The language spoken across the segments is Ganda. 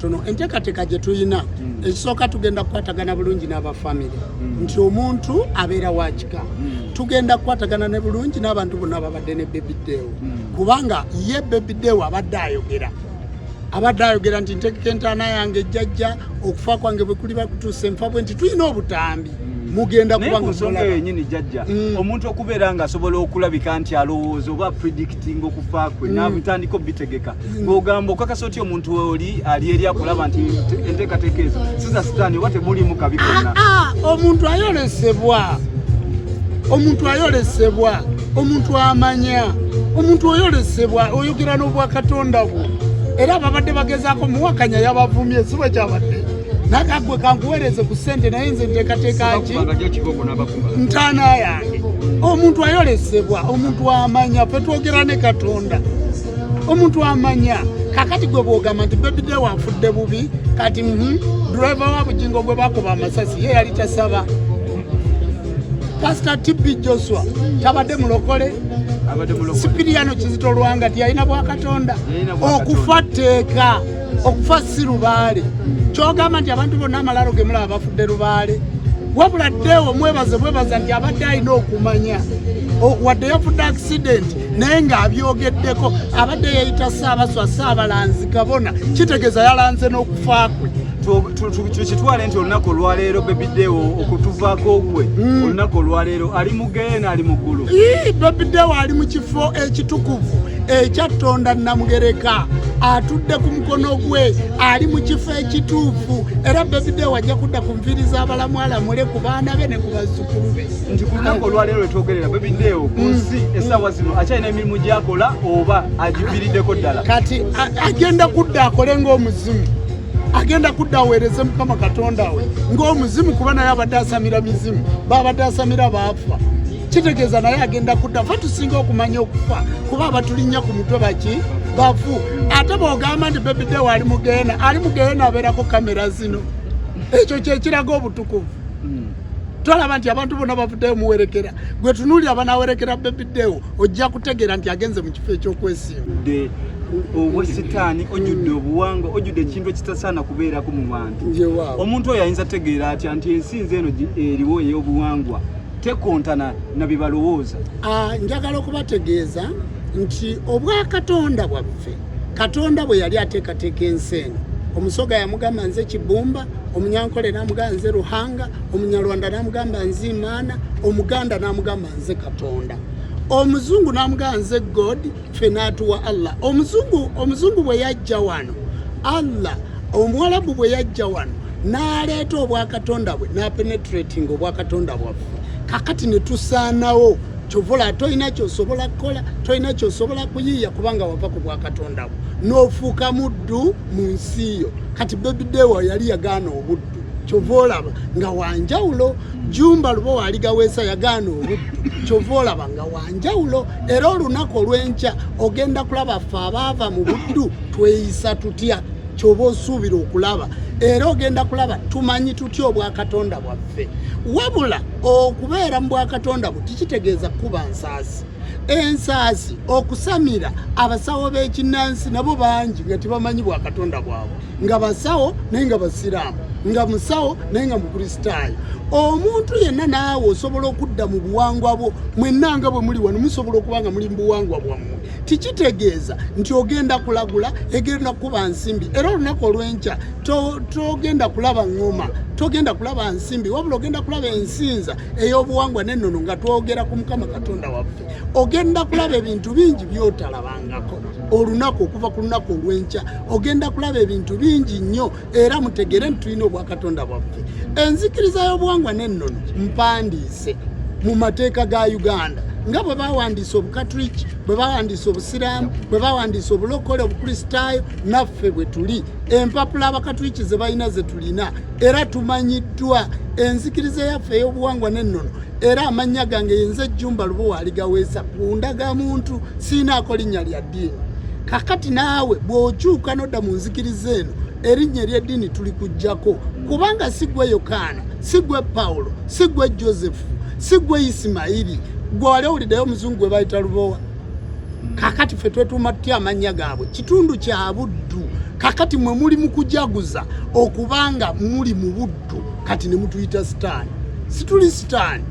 tono enteekateeka gye tulina mm. ekisooka tugenda kukwatagana bulungi n'aba famire mm. nti omuntu abeera wakika mm. tugenda kukwatagana ne bulungi n'abantu bonna ababadde ne bebideewo mm. kubanga ye bebideewo abadde ayogera abadde ayogera nti ntegeka entaana yange ejjajja okufa kwange bwe kuli bakutuusa enfa bwe nti tulina obutambi mm. mugenda kuba nga nsonga yenyini jajja mm. omuntu okubeera nga asobola okulabika nti alowooza oba predict tinga okufa kwe mm. nabutandika obitegeka mm. ng'ogamba okakasa otya omuntu oli ali eri akulaba nti enteekateeka ezo siza sitaani oba temulimu kabi konna ah, ah, omuntu ayolesebwa omuntu ayolesebwa omuntu amanya omuntu oyolesebwa oyogera n'obwakatonda bwo era babadde bagezaako muwakanya yabavumye si bwe kyabadde naga gwe kankuweereze ku ssente naye nze nteekateeka ki ntaana yange omuntu ayolesebwa omuntu amanya fe twogera ne katonda omuntu amanya kakati gwe bwogamba nti bebide wafudde bubi kati mhm, driver wa bujingo gwe bakuba amasasi ye yali tasaba pasita tb joshua tabadde mulokole sipiriyano kizito lwanga tiyalina bwakatonda okufa tteeka okufa si lubaale kyogamba nti abantu bonna amalaalo ge mulaba bafudde lubaale wabula ddeewo mwebaze bwebaza nti abadde alina okumanya wadde yafudde akisidenti naye ng'abyogeddeko abadde yeyita saabaswa saabalanzi kabona kitegeeza yalanze n'okufa kwe tukitwale nti olunaku olwaleero bebidewo okutuvako gwe hmm. olunaku olwaleero ali Geyena ali mu ggulu. Ii, Baby Dewa ali mu kifo ekitukuvu ekya Tonda Namugereka atudde ku mukono gwe ali mu kifo ekituufu era Baby Dewa ajja kudda ku nviiri z'abalamu alamule ku baana be ne ku bazzukulu be. Nti ku lunaku olwaleero lwe twogerera Baby Dewa ku mm. nsi essaawa zino akyalina emirimu gy'akola oba agiviiriddeko ddala? Kati agenda kudda akole ng'omuzimu. agenda kudda aweereze mukama katonda we ng'omuzimu kuba naye abadde asamira mizimu baabadde asamira baafa kitegeeza naye agenda kudda fe tusinga okumanya okufa kuba abatulinnya ku mutwe baki bafu ate bwogamba nti bebidewo ali mugeena ali mugeena abeerako kamera zino ekyo kyekiraga obutukuvu hmm. tolaba nti abantu bona bavuddeyo muwerekera gwe tunuuli abanawerekera bebidewo ojja kutegeera nti agenze mu kifo eky'okwesimudde obwesitaani ojjudde obuwanga ojjudde ekintu ekitasaana kubeerako mu bantu omuntu oyo ayinza tegeera atya nti ensi nze eno eriwo ey'obuwangwa tekontana na bye balowooza ah, njagala okubategeeza nti obwakatonda bwaffe katonda bwe yali ateekateeka ensi eno omusoga yamugamba nze kibumba omunyankole namugamba nze ruhanga omunyarwanda namugamba nze imaana omuganda namugamba nze katonda omuzungu namugaa nze god fe natuwa allah omuzungu omuzungu bwe yajja wano allah omuwalabu bwe yajja wano naleeta obwakatonda bwe napenetrating obwakatonda bwaffe kakati netusaanawo kyovola tolina kyosobola kukola tolina kyosobola kuyiiya kubanga wava ku bwakatonda bwo nofuuka muddu mu nsi yo kati bebidewa yali yagaana obuddu kyova olaba nga wanjawulo jumba luba waligaweesa yagaana obuddu kyova olaba nga wanjawulo era olunaku olwenkya ogenda kulaba ffe abaava mu buddu tweyisa tutya kyoba osuubira okulaba era ogenda kulaba tumanyi tutya obwakatonda bwaffe wabula okubeera mu bwakatonda bwe tikitegeeza kukuba nsaasi ensaasi okusamira abasawo b'ekinnansi nabo bangi nga tebamanyi bwakatonda bwabwe nga basawo naye nga basiraamu nga musawo naye nga mukristaayo omuntu yenna naawe osobola okudda mu buwangwa bwo mwenna nga bwe muli wano musobola okuba nga muli mu buwangwa bwammwe tikitegeeza nti ogenda kulagula egenda kukuba nsimbi era olunaku olw'enkya togenda kulaba ngoma togenda kulaba nsimbi wabula ogenda kulaba ensinza ey'obuwangwa n'ennono nga twogera ku mukama katonda waffe ogenda kulaba ebintu bingi byotalabangako olunaku okuva ku lunaku olw'enkya ogenda kulaba ebintu bingi nnyo era mutegere nti tulina obwakatonda bwaffe enzikiriza y'obuwangwa n'ennono mpandiise mu mateeka ga uganda nga bwe bawandiisa obukatuliki bwe bawandiisa obusiraamu bwe bawandiisa obulokole obukristaayo naffe bwe tuli empapula abakatuliki ze balina ze tulina era tumanyiddwa enzikiriza yaffe ey'obuwangwa n'ennono era amannya gange yenze ejjumba lubowa aligaweesa ku ndagamuntu siinaako linnya lya ddiini kakati naawe bw'okyuka nodda mu nzikiriza eno erinnya ery'eddiini tuli kujjako kubanga si gwe yokaana si gwe pawulo si gwe josefu si gwe isimayiri gwe wali owuliddeyo omuzungu gwe bayita lubowa kakati ffe twetuuma tutya amannya gaabwe kitundu kya buddu kakati mwe muli mu kujaguza okubanga muli mu buddu kati ne mutuyita sitaani situli sitaani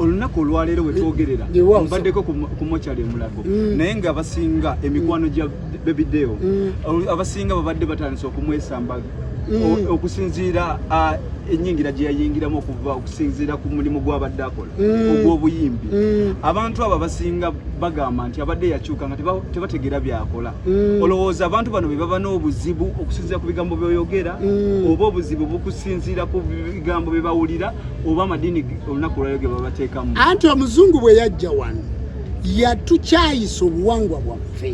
olunaku olwaleero wetwogerera mbaddeko ku mochali emulago mm. naye nga abasinga emikwano gya bebideo mm. abasinga babadde batandise okumwesamba mm. okusinziira enyingira gye yayingiramu okuva okusinziira ku mulimu gwabadde akola mm. ogw'obuyimbi mm. abantu abo abasinga bagamba nti abadde yakyuka nga tebategeera byakola Mm. olowooza abantu bano bebaba n'obuzibu okusinzira ku bigambo byoyogera mm. oba obuzibu bukusinziira ku bigambo byebawulira oba amadiini olunaku lwayo ge babateekamu anti omuzungu bwe yajja wano yatukyayisa obuwangwa bwaffe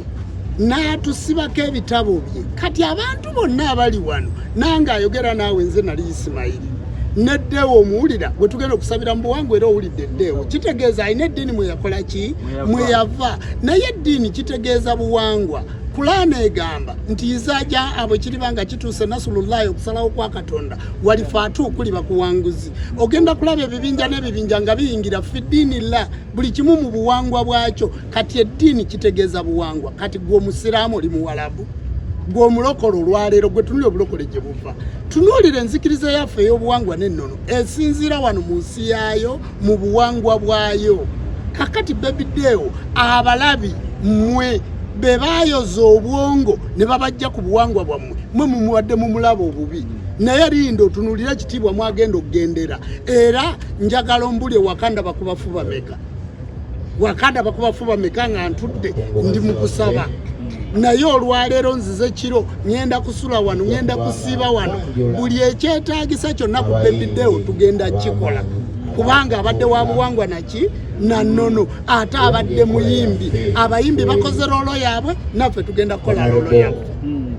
n'atusibako ebitabo bye kati abantu bonna abali wano nange ayogera naawe nze nali isimayiri neddeewo omuwulira gwe tugenda okusabira mu buwangwa era owulidde eddeewo kitegeeza alina eddiini mwe yakola ki mweyava naye eddiini kitegeeza buwangwa kulaana egamba nti izaja abo kiriba nga kituuse nasulullahi okusalawo kwa katonda walifaatu kuli bakuwanguzi ogenda kulaba ebibinja n'ebibinja nga biyingira fi ddiini llah buli kimu mu buwangwa bwakyo kati eddiini kitegeeza buwangwa kati gwe omusiraamu oli muwalabu gwe omulokole olwaleero gwe tunuli obulokole gye buva tunuulira enzikiriza yaffe ey'obuwangwa n'ennono esinziira wano mu nsi yaayo mu buwangwa bwayo kakati bebideewo abalabi mmwe be bayoza obwongo ne babajja ku buwangwa bwammwe mwe mumuwadde mu mulabo obubi naye linda otunulira ekitiibwa mwagenda okugendera era njagala ombuli ewakanda bakubafuba meka wakanda bakubafu bameka nga ntudde ndi mukusaba naye olwaleero nzize kiro ŋenda kusula wano ŋenda kusiiba wano buli ekyetagisa kyonna ku bebidewo tugenda kikola kubanga abadde wa buwangwa naki na nono ate abadde muyimbi abayimbi bakoze loolo yaabwe naffe tugenda kukola loolo yaabwe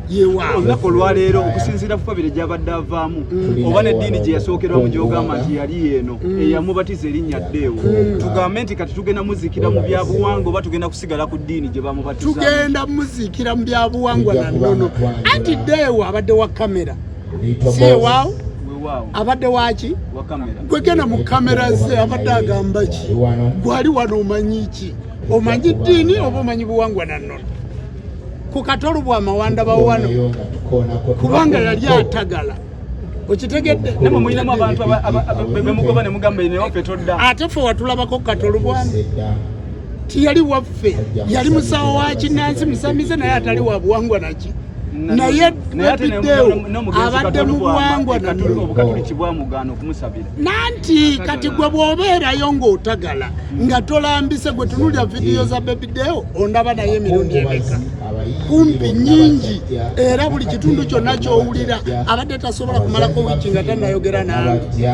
yewawo olunaku olwaleero okusinziira ku kabiri gyabadde avaamu mm. oba neddiini gye yasookerwa mu gyogamba nti yali eno mm. eyamubatiza erinnya ddeewo mm. tugambe nti kati tugenda muzikira mu byabuwangwa oba tugenda kusigala ku ddiini gye bamubatiza tugenda muzikira mu byabuwangwa na nnono anti ddeewo abadde wa kamera si ewaawo abadde waki gwegenda mu kamera ze abadde agamba ki gwali wano omanyi ki omanyi ddiini oba omanyi buwangwa na nnono ku katolu bwa mawanda ba wano kubanga yali atagala okitegedde namwe mulinamu abantu bemugoba ne mugamba ine waffe todda ate ffe watulabako ku katolu bwamu tiyali waffe yali musawo wa kinansi musamize naye atali wa buwangwa naki naye abadde mu buwangwa nabyo nanti kati gwe bwobeerayo ng'otagala nga tolambise gwe tunulya vidiyo za bebideo ondaba naye emirundi emeka kumpi nyingi era buli kitundu kyonna kyowulira abadde tasobola kumalako wiiki nga tanayogera nange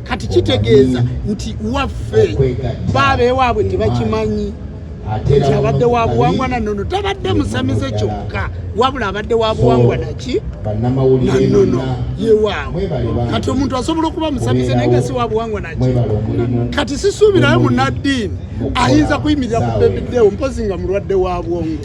kati kitegeeza nti waffe baabeewaabwe tebakimanyi nti abadde wa buwangwa na nono tabadde musamize kyokka wabula abadde wa buwangwa naki nanono yewaawo kati omuntu asobola okuba musamize naye nga si wa buwangwa naki kati sisuubirayo munaddiini ayinza kuyimirira ku bebideewo mpozi nga mulwadde wa bwongo